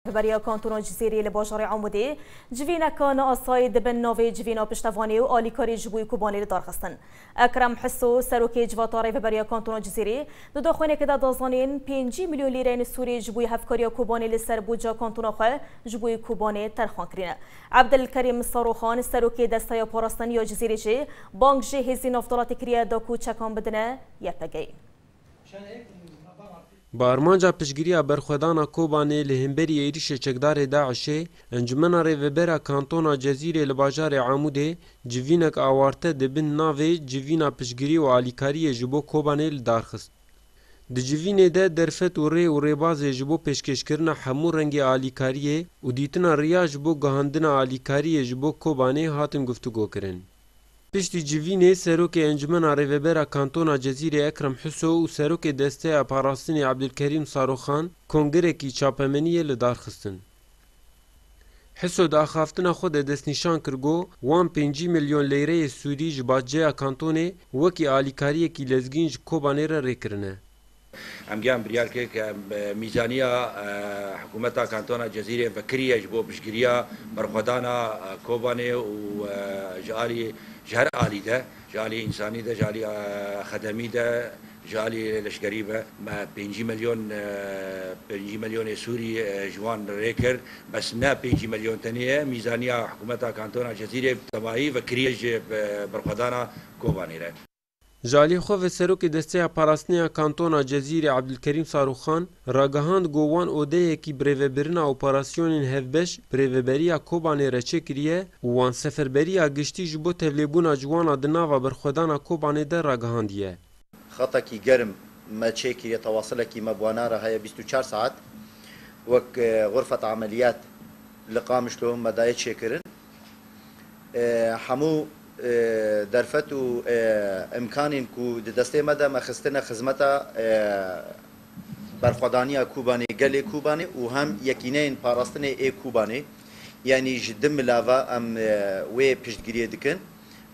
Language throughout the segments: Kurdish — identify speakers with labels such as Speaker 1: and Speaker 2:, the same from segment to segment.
Speaker 1: Di beriya Kantona Cizîrî li bajarê Amûdê civîneka neasayî di bin navê Civîna Piştevanê û alîkarî ji bo Kobanê lidarxistin. Ekrem Hiso, serokê Civata Rêveberiya Kantona Cizîrî di daxuyanekê de da zanîn, pêncî milyon lîreyên sûrî ji bo hevkariya Kobanê li ser budca kantona xwe ji bo Kobanê terxan kirîne. Ebdilkerîm Saroxan, serokê Desteya Parastin ya Cizîrî jî bang ji hêzên navdalatê kiriye da ku çekan bidine YPG'ê.
Speaker 2: Bi armanca piştgiriya berxwedana Kobanê li hemberî êrîşê çekdarê DAIŞ'ê, Encûmena Rêvebera Kantona Cezîrê li bajarê Amûdê civînek awarte di bin navê Civîna Piştgirî û Alîkariyê ji bo Kobanê li dar xist. Di civînê de derfet û rê û rêbazê ji bo pêşkêşkirina hemû rengê alîkariyê û dîtina riya ji bo gihandina alîkariyê ji bo Kobanê hatin guftugokirin. Piştî civînê Serokê Encumena Rêvebera Kantona Cezîrê Ekrem Huso û Serokê Desteya Parastinê Abdulkerîm Saroxan kongirekî çapemeniyê li dar xistin. Huso di axaftina xwe de destnîşan kir go wan pêncî milyon lîreyê sûdî ji Badceya Kantonê wekî alîkariyekî lezgîn ji Kobanê re rê kirine. Emgeyan
Speaker 3: biryar kir ke mîzaniya Hikûmeta Kantona Cezîrê vekiriye ji bo piştgiriya berxwedana Kobanê û ji alî ji her alî de, ji alî însanî de, ji alî xedemî de, ji alî leşkerî be. Me pêncî milyon pêncî milyonê Sûrî ji wan rê kir. Bes ne pêncî milyon tenê ye. Mîzaniya Hikûmeta Kantona Cezîrê bi tevahî vekiriye ji berxwedana Kobanê re. Ji aliyê xwe
Speaker 2: ve Serokê Desteya Parastinê ya Kantona Cezîrê Abdulkerîm Saruxan, ragihand ku wan odeyekî bi rêvebirina operasyonên hevbeş bi Rêveberiya Kobanê re çêkiriye û wan seferberiya giştî ji bo tevlêbûna ciwanan di nava berxwedana Kobanê de ragihandiye. Xetekî
Speaker 4: germ me çêkiriye tewasilekî me bi wan a re heye bîst û çar saet wek Xurfet Ameliyat li Qamişlo me daye çêkirin. Hemû derfet û îmkanên ku di destê me de me xistine xizmeta berxwedaniya Kûbanê, gelê Kûbanê û hem yekîneyên parastinê ê Kûbanê. Yanî ji di mila ve em wê piştgiriyê dikin.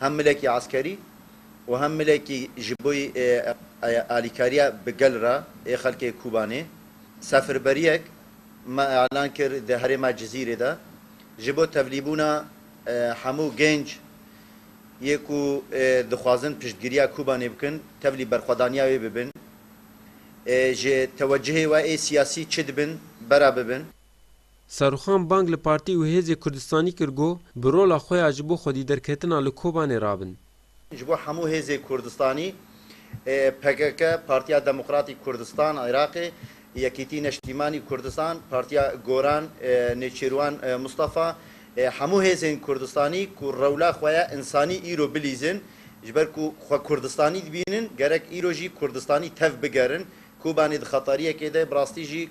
Speaker 4: Hem milekî eskerî û hem milekî ji bo alîkariya bi gel re ê xelkê Kûbanê. Sefirberiyek me elan kir di herêma Cizîrê de. Ji bo tevlîbûna hemû genc yê ku dixwazin piştgiriya Kobanê bikin tevlî berxwedaniya wê bibin, ji tewecihê we ê siyasî çi dibin bera bibin. Serûxan
Speaker 2: bang li partî û hêzê Kurdistanî kir got, bi rola xwe ya ji bo xwedîderketina li Kobanê rabin. Ji bo hemû
Speaker 4: hêzê Kurdistanî, pkk, Partiya Demokratîk Kurdistan a Iraqê, Yekîtî Neştîmanî Kurdistan, Partiya Goran, Nêçîrwan Mistefa, hemû hêzên Kurdistanî ku rewla xwe ya însanî îro bilîzin, ji ber ku xwe Kurdistanî dibînin, gerek îro jî Kurdistanî tev bigerin. Kobanê di xetariyekê de, bi rastî jî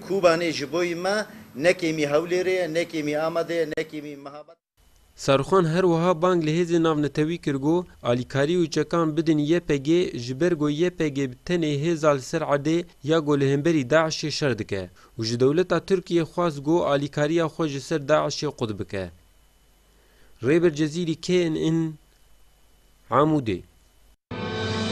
Speaker 4: Kobanê ji bo me ne kêmî Hewlêrê ye, ne kêmî Amedê ye, ne kêmî Mihabad. Saruxan her
Speaker 2: wiha bang li hêzên navnetewî kir ku alîkarî û çekan bidin YPG'ê ji ber ku YPG bi tenê hêza li ser erdê ya ku li hemberî DAIŞ'ê şer dike û ji dewleta Tirkiyê xwest ku alîkariya xwe ji ser DAIŞ'ê qut bike. Rêber Cezîrî kê in in Amûdê?